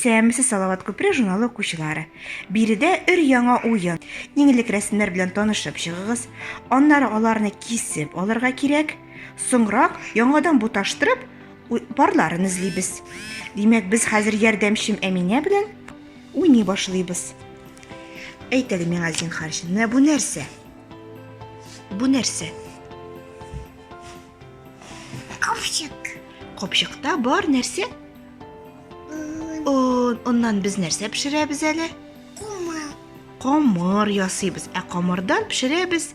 Исәмесе Салават күпре журналы укучылары. Биредә өр яңа уен. Иң элек рәсемнәр белән танышып чыгыгыз. Аннары аларны кисеп алырга кирәк. Соңрак яңадан буташтырып, Парларын эзлибез. Димәк, без хәзер ярдәмчем Әминә белән уйный башлыйбыз. Әйт әле миңа, зинхар, менә бу нәрсә? Бу нәрсә? Капчык. Капчыкта бар нәрсә? Оннан без нәрсә пешерәбез әле? Камыр. Камыр ясыйбыз. Ә камырдан пешерәбез?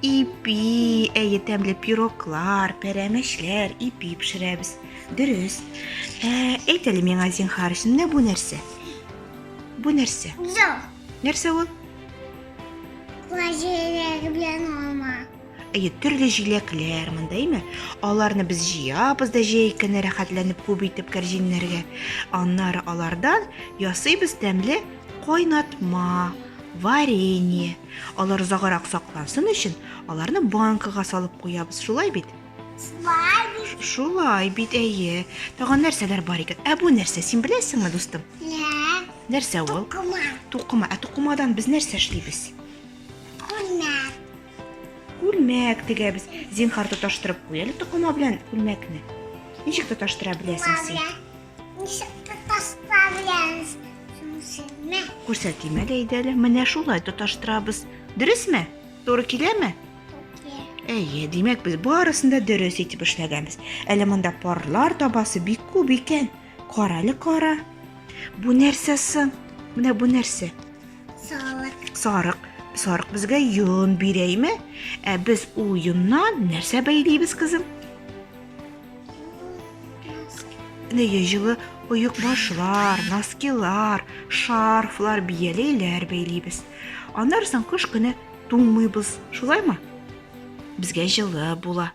Ипи, әйе, тәмле пироклар, пәрәмәчләр, ипи пешерәбез. Дөрес. Ә, әйт әле миңа, зинхар, менә бу нәрсә? Бу нәрсә? Зо. Нәрсә ул? Җиләк белән алма. Әйе, төрле җиләкләр монда, әйме? Аларны без җыябыз да җәй көне рәхәтләнеп күп итеп кәрҗиннәргә. Аннары алардан ясыйбыз тәмле кайнатма, варенье. Алар озаграк саклансын өчен, аларны банкага салып куябыз, шулай бит? Шулай бит. Шулай бит, әйе. Тагын нәрсәләр бар икән? Ә бу нәрсә, син беләсеңме, дустым? Лә. Нәрсә ул? Тукыма. Тукыма. Ә тукымадан без нәрсә эшлибез? Күлмәк. Күлмәк тегәбез. Зинхар тоташтырып куй әле тукыма белән күлмәкне. Ничек тоташтыра беләсең син? Күрсәтим әле әйдә әле. Менә шулай тоташтырабыз. Дөресме? Туры киләме? Әйе, димәк без барысын да дөрес итеп эшләгәнбез. Әле монда парлар табасы бик күп икән. Кара әле кара. Бу нәрсә соң? Менә бу нәрсә? Сарык. Сарык. Сарык безгә йон бирәйме? Ә без ул йоннан нәрсә бәйлибез, кызым? Менә яй җылы оекбашлар, носкилар, шарфлар, бияләйләр бәйлибез. Аннары соң кыш көне туңмыйбыз, шулаймы? Безгә җылы була.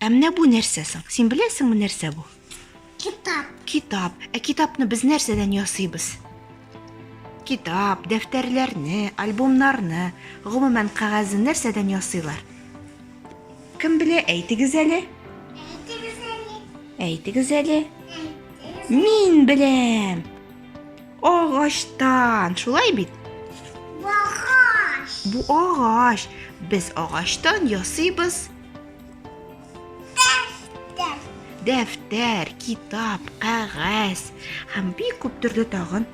Ә менә бу нәрсә соң? Син беләсеңме нәрсә бу? Китап. Китап. Ә китапны без нәрсәдән ясыйбыз? Китап, дәфтәрләрне, альбомнарны, гомумән кәгазьне нәрсәдән ясыйлар? Кем белә, әйтегез әле. Әйтегез әле. Әйтегез әле. Мин беләм. Агачтан, шулай бит? Агач. Бу агач. Без агачтан ясыйбыз. Дәфтәр. Дәфтәр, китап, кәгазь һәм бик күп төрле тагын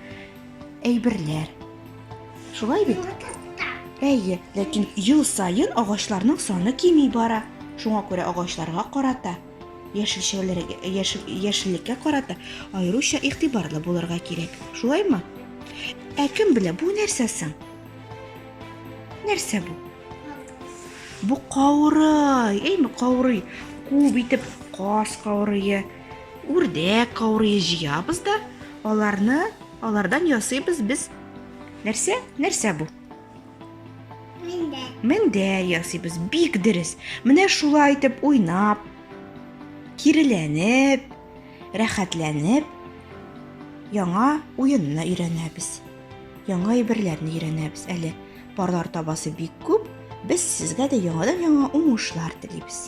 әйберләр. Шулай бит? Әйе, ләкин ел саен агачларның саны кими бара. Шуңа күрә агачларга карата, яшелчәләргә, яшеллеккә карата аеруча игътибарлы булырга кирәк. Шулаймы? Ә кем белә, бу нәрсә соң? Нәрсә бу? Бу каурый, әйме, каурый. Күп итеп каз каурые, Үрдәк каурые җыябыз да, аларны, алардан ясыйбыз без нәрсә? Нәрсә бу? Мендәр. Мендәр ясыйбыз. Бик дөрес. Менә шулай итеп уйнап, киреләнеп, рәхәтләнеп яңа уенны өйрәнәбез. Яңа әйберләрне өйрәнәбез. Әле парлар табасы бик күп. Без сезгә дә яңадан-яңа уңышлар телибез.